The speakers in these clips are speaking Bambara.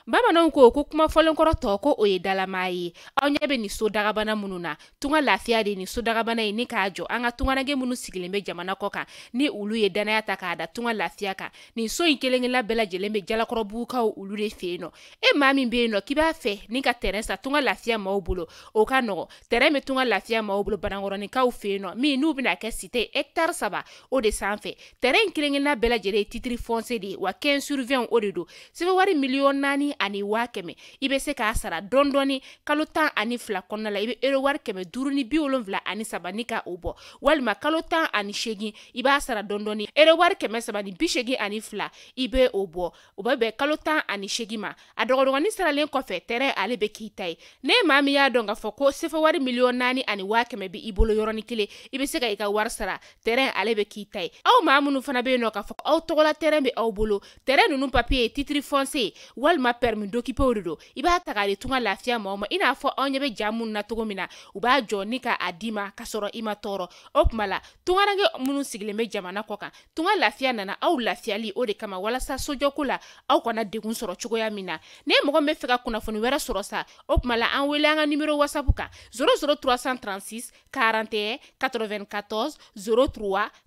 bamananw ko ko kuma fɔlenkɔrɔ tɔ ko o ye dalamaa ye aw ɲɛ bɛ nin so dagabana minnu na tunga lafiya de ye nin so dagabana ye ni k'a jɔ an ka tungaranke minnu sigilen bɛ jamana kɔ kan ni olu ye dannaya ta k'a da tunga lafiya kan nin so in kelen-kelenna bɛɛ lajɛlen bɛ jalakɔrɔbugukaw olu de fɛ yen nɔ e maa min bɛ yen nɔ k'i b'a fɛ ni ka tɛrɛn san tunga lafiya maaw bolo o ka nɔgɔ tɛrɛn bɛ tunga lafiya maaw bolo banankɔrɔninkaw fɛ yen nɔ min n'u bɛna kɛ site hɛkitari saba o de sanfɛ tɛrɛn in kelen-kelenna bɛɛ lajɛlen ye titiri fɔnse de ye wa 15 sur 20 o de don sefa wari miliyɔn naani ani waa kɛmɛ i bɛ se k'a sara dɔɔni dɔɔni kalo tan ani fila kɔnɔna la i bɛ euro wari kɛmɛ duuru ni bi wolonwula ani saba ni ka o bɔ walima kalo tan ani seegin i b'a sara dɔɔni dɔɔni euro wari kɛmɛ saba ni bi seegin ani fila i bɛ o bɔ o bɛ bɛn kalo tan ani seegin ma a dɔgɔdɔgɔnin saralen kɔfɛ tɛrɛn ale bɛ k'i ta ye n'e maa min y'a dɔn k'a fɔ ko sefa wari miliyɔn naani ani waa kɛmɛ bɛ i bolo yɔrɔnin kelen i bɛ se ka i ka wari sara tɛrɛn ale bɛ k'i ta ye aw maa minnu fana bɛ yen nɔ k'a fɔ aw tɔgɔla tɛrɛn bɛ aw bolo tɛrɛn ninnu papiye titiri fɔnse walima pɛrɛmi dokipe o de don i b'a ta k'a di tunga lafiya maaw ma i n'a fɔ aw ɲɛ bɛ ja minnu na cogo min na u b'a jɔ ni ka a di i ma ka sɔrɔ i ma tɔɔrɔ o tuma la tungaranke minnu sigilen bɛ jamana kɔ kan tunga lafiya nana aw lafiyali o de kama walasa sojɔko la aw kana degun sɔrɔ cogoya min na n'e mɔgɔ b'a fɛ ka kunnafoni wɛrɛ sɔrɔ sa o tuma la an wele an ka nimero wasapu kan 00 336 41 94 03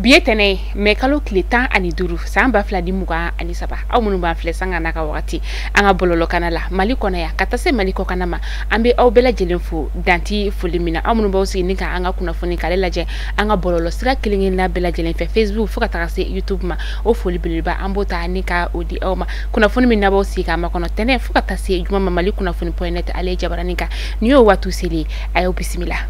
bi ye tɛnɛ ye mɛ kalo tile tan ani duuru san ba fila ni mugan ani saba aw minnu b'an filɛ sanga n'a ka wagati an ka bɔlɔlɔkana la mali kɔnɔ yan ka taa se mali kɔkana ma an bɛ aw bɛɛ lajɛlen fo dan tɛ foli min na aw minnu b'aw sigi ni ka an ka kunnafoni k'ale lajɛ an ka bɔlɔlɔ sira kelen kelenna bɛɛ lajɛlen fɛ facebook fo ka taga se youtube ma o foli beleba an b'o ta ni ka o di aw ma kunnafoni min n'aw b'aw sigi k'a makɔnɔ tɛnɛ fo ka taa se juma ma mali kunnafoni pɔyɛn nɛt ale jabarani kan ni y'o waati selen a y'o bisimila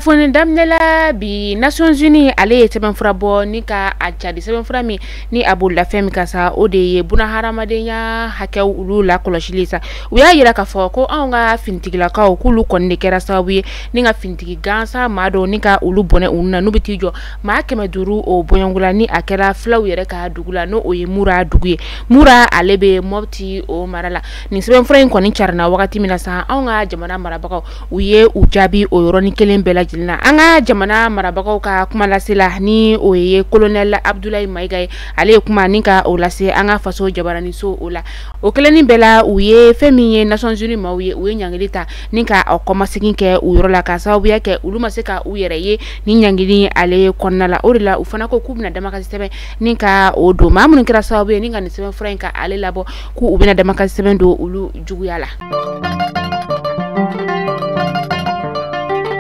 foni daminɛla bi nations unies ale ye sɛbɛnfura bɔ ni ka a cari sɛbɛnfura min ni a bɔla fɛn min kan sa o de ye buna hadamadenya hakɛw olu lakɔlɔsili sa u y'a yira k'a fɔ ko anw ka finitigilakaw k'olu kɔni de kɛra sababu ye ni ka finitigi gansan maa dɔw ni ka olu bɔnɛ u ni na n'u bɛ t'i jɔ maa kɛmɛ duuru o bɔɲɔgɔnla ni a kɛra filaw yɛrɛ ka dugu la ni o ye mura dugu ye mura ale bɛ mɔti o mara la nin sɛbɛnfura in kɔni carinna wagati min na sa anw ka jamana marabagaw u ye u jaabi o yɔrɔnin kelen bɛɛ lajɛlen na an ka jamana marabagaw ka kumalasela ni o ye kolonɛli abudulayi mayiga ye ale ye kuma ni ka o lase an ka faso jabaraniso o la o kelennin bɛɛ la u ye fɛn min ye nations unies maaw ye u ye ɲangili ta ni ka o kɔmasegin kɛ u yɔrɔ la k'a sababuya kɛ olu ma se ka u yɛrɛ ye ni ɲangili ale kɔnɔna la o de la u fana ko k'u bɛna damakasi sɛbɛn ni ka o don maa minnu kɛra sababu ye ni ka nin sɛbɛnfura in ka ale labɔ k'u bɛna damakasi sɛbɛn don olu juguya la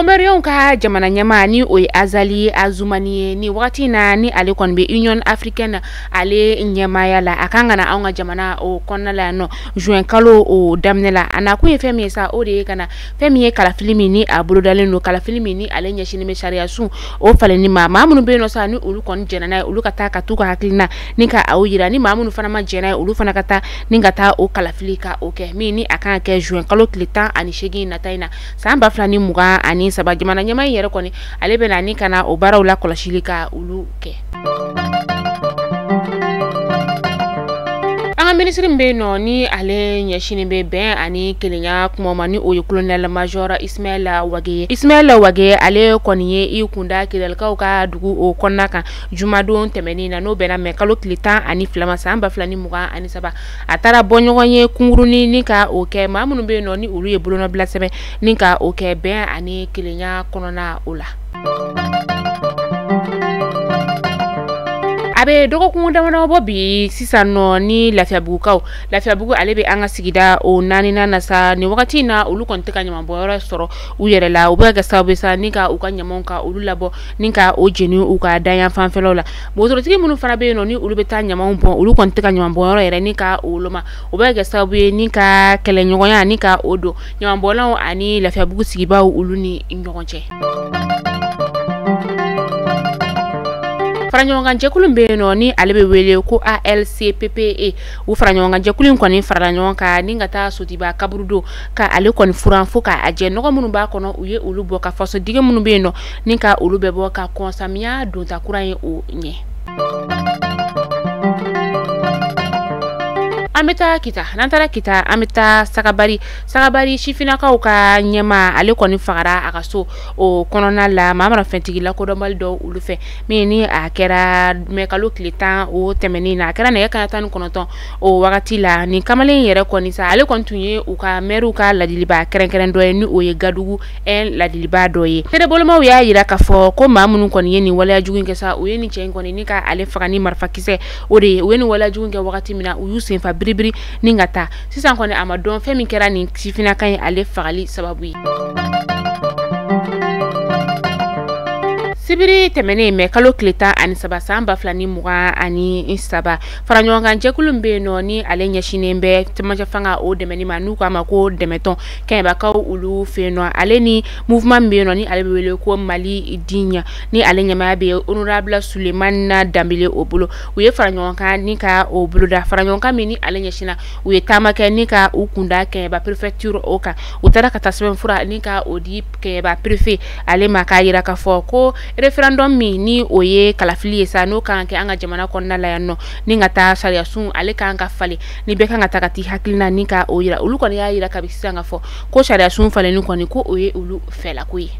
Comoriens ka jamana ɲɛmaa ni o ye Azali Azumani ye nin wagati na ni ale kɔni bɛ Union africaine ale ɲɛmaaya la a kan ka na anw ka jamana o kɔnɔna la yan nɔ juin kalo o daminɛ la a nakun ye fɛn min ye sa o de ye ka na fɛn min ye kalafili min ni a bolodalen don kalafili min ni ale ɲɛsinnen bɛ sariya sun o falenni ma maa minnu bɛ yen nɔ sa ni olu kɔni jɛnna n'a ye olu ka taa ka t'u ka hakilina ni ka o yira ni maa minnu fana ma jɛn n'a ye olu fana ka taa ni ka taa o kalafili ka o kɛ min ni a kan ka kɛ juin kalo tile tan ani seegin nata in na san ba fila ni mugan ani saba jamana ɲɛmaa in yɛrɛ kɔni ale bɛ na ni ka na o baaraw la kɔlɔsili ka olu kɛ an ka minisiri min bɛ yen nɔ ni ale ɲɛsinnen bɛ bɛn ani kelenya kuma ma ni o ye kolonɛla majɔra ismaila wage ye ismaila wage ale kɔni ye i kunda kidalikaw ka dugu o kɔnɔna kan jumadon tɛmɛnen na n'o bɛnna mɛ kalo tile tan ani fila ma san ba fila ni mugan ani saba a taara bɔ ɲɔgɔn ye kunkurunin ni ka o kɛ maa minnu bɛ yen nɔ ni olu ye bolonɔbila sɛbɛn ni ka o kɛ bɛn ani kelenya kɔnɔna o la a bɛ dɔgɔkun damadɔ bɔ bi sisan nɔ ni lafiyabugukaw lafiyabugu ale bɛ an ka sigida o naaninan na sa nin wagati in na olu kɔni tɛ ka ɲamanbɔnyɔrɔ sɔrɔ u yɛrɛ la u bɛ ka kɛ sababu ye sa ni ka u ka ɲamanw ka olu labɔ ni ka o jeni u ka dayan fanfɛlaw la wotorotigi minnu fana bɛ yen nɔ ni olu bɛ taa ɲamanw bɔn olu kɔni tɛ ka ɲamanbɔnyɔrɔ yɛrɛ ni ka o woloma o bɛ ka kɛ sababu ye ni ka kɛlɛɲɔgɔnya ni ka o don ɲamanbɔnlaw ani lafiyabugu sigibaaw olu ni ɲɔgɔn cɛ faraɲɔgɔnkanjɛkulu bɛ yen nɔ ni ale bɛ wele ko alcppe u faraɲɔgɔnkanjɛkulu in kɔni farala ɲɔgɔn kan ni ka taa sotuba kaburudo ka ale kɔni furan fo k'a jɛ nɔgɔ minnu b'a kɔnɔ u ye olu bɔ ka fasodige minnu bɛ yen nɔ ni ka olu bɛɛ bɔ ka kɔn samiya donta kura in o ɲɛ an bɛ taa kita n'an taara kita an bɛ taa sagabari sagabari sifinnakaw ka ɲɛmaa ale kɔni fagara a ka so o kɔnɔna la maramafɛntigi lakodɔnbali dɔw olu fɛ min ni a kɛra mɛkalo tile tan o tɛmɛnen na a kɛra nɛgɛ kanɲɛ tan ni kɔnɔntɔn o wagati la nin kamalen yɛrɛ kɔni sa ale kɔni tun ye u ka mɛriw ka laadilibaa kɛrɛnkɛrɛn dɔ ye ni o ye gadugu un laadilibaa dɔ ye seerebolomaw y'a jira k'a fɔ ko maa minnu kɔni ye nin waleya jugu kɛ sa u ye nin cɛ in kɔni ni ka ale faga ni marifakisɛ o de ye u ye nin waleya jugu kɛ wagati min na u y'u senfa biribiri ni ka taa sisan kɔni a ma dɔn fɛn min kɛra nin sifinaka ye ale fagali sababu ye sibiri tɛmɛnen mɛ kalo tile tan ani saba san ba fila ni mugan ani saba faraɲɔgɔnkan jɛkulu min bɛ yen nɔ ni ale ɲɛsinnen bɛ cɛmancɛ fanga o dɛmɛni ma n'u k'a ma ko dɛmɛtɔn kɛɲɛbakaw olu fɛ yen nɔ ale ni mouvement min bɛ yen nɔ ni ale bɛ wele ko mali diɲɛ ni ale ɲɛmaaya bɛ honorable sulemani danbele o bolo u ye faraɲɔgɔnkan ni ka o boloda faraɲɔgɔnkan min ni ale ɲɛsinna u ye taama kɛ ni ka u kunda kɛɲɛba perefekturu o kan u taara ka taa sɛbɛnfura ni ka o di kɛɲɛba perefe ale ma k'a jira k'a fɔ ko referendum min ni o ye kalafili ye sa n'o kan ka kɛ an ka jamana kɔnɔna la yan nɔ ni ka taa sariyasun ale kan ka falen ni bɛɛ kan ka taa ka t'i hakilina ni ka o jira olu kɔni y'a jira kabi sisan k'a fɔ ko sariyasun falenni kɔni ko o ye olu fɛlako ye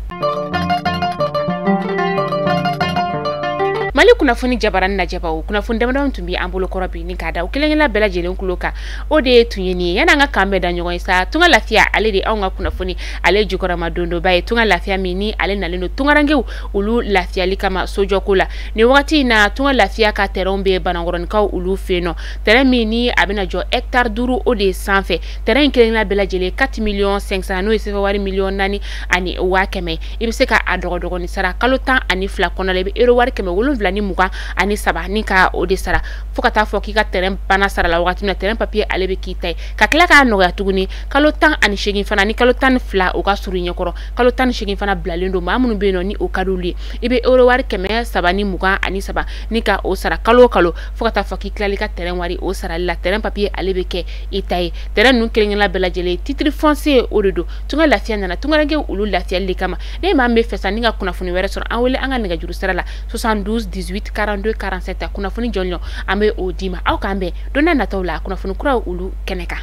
mali kunnafoni jabaranin lajɛbaw kunnafoni damadama tun bɛ an bolo kɔrɔ bi ni k'a da aw kelenkelenna bɛɛ lajɛlen kulo kan o de ye tun ye nin ye yan'an ka k'an bɛn da ɲɔgɔn ye sa tunga lafiya ale de anw ka kunnafoni ale jukɔrɔmadondonba ye tunga lafiya min ni ale nalen don tungarankew olu lafiyali kama sojɔko la nin wagati in na tunga lafiya ka tɛrɛnw bɛ banankɔrɔnikaw olu fɛ yen nɔ tɛrɛn min ni a bɛna jɔ hɛkitari duuru o de sanfɛ tɛrɛn in kelenkelenna bɛɛ lajɛlen 4 miliyɔn 500 n'o ye sefa wari miliyɔn naani ani waa kɛmɛ i bɛ se ka a dɔgɔdɔgɔni sara kalo tan ani fila kɔnɔ la i bɛ euro wari kɛmɛ wolonwula ni mugan ani saba ni ka o de sara fo ka taa fɔ k'i ka tɛrɛn banna sara la wagati min na tɛrɛn papiye ale bɛ k'i ta ye ka tila k'a nɔgɔya tuguni kalo tan ani seegin fana ni kalo tan ni fila o ka surun i ɲɛkɔrɔ kalo tan ni seegin fana bilalen don maa minnu bɛ yen nɔ ni o ka d'olu ye i bɛ euro wari kɛmɛ saba ni mugan ani saba ni ka o sara kalo o kalo fo ka taa fɔ k'i tilal'i ka tɛrɛn wari o sarali la tɛrɛn papiye ale bɛ kɛ i ta ye tɛrɛn ninnu kelenkelenna bɛɛ lajɛlen titiri fɔnsiye o de don tunga lafiya nana tungaranke olu lafiyali de kama ni maa min b'a fɛ sa ni ka kunnafoni wɛrɛ sɔrɔ an wele an ka nɛgɛjuru sira la 72 18 42 47 a kunnafoni jɔnjɔn an bɛ o d'i ma aw k'an bɛn don n'a nataw la kunnafoni kuraw olu kɛnɛ kan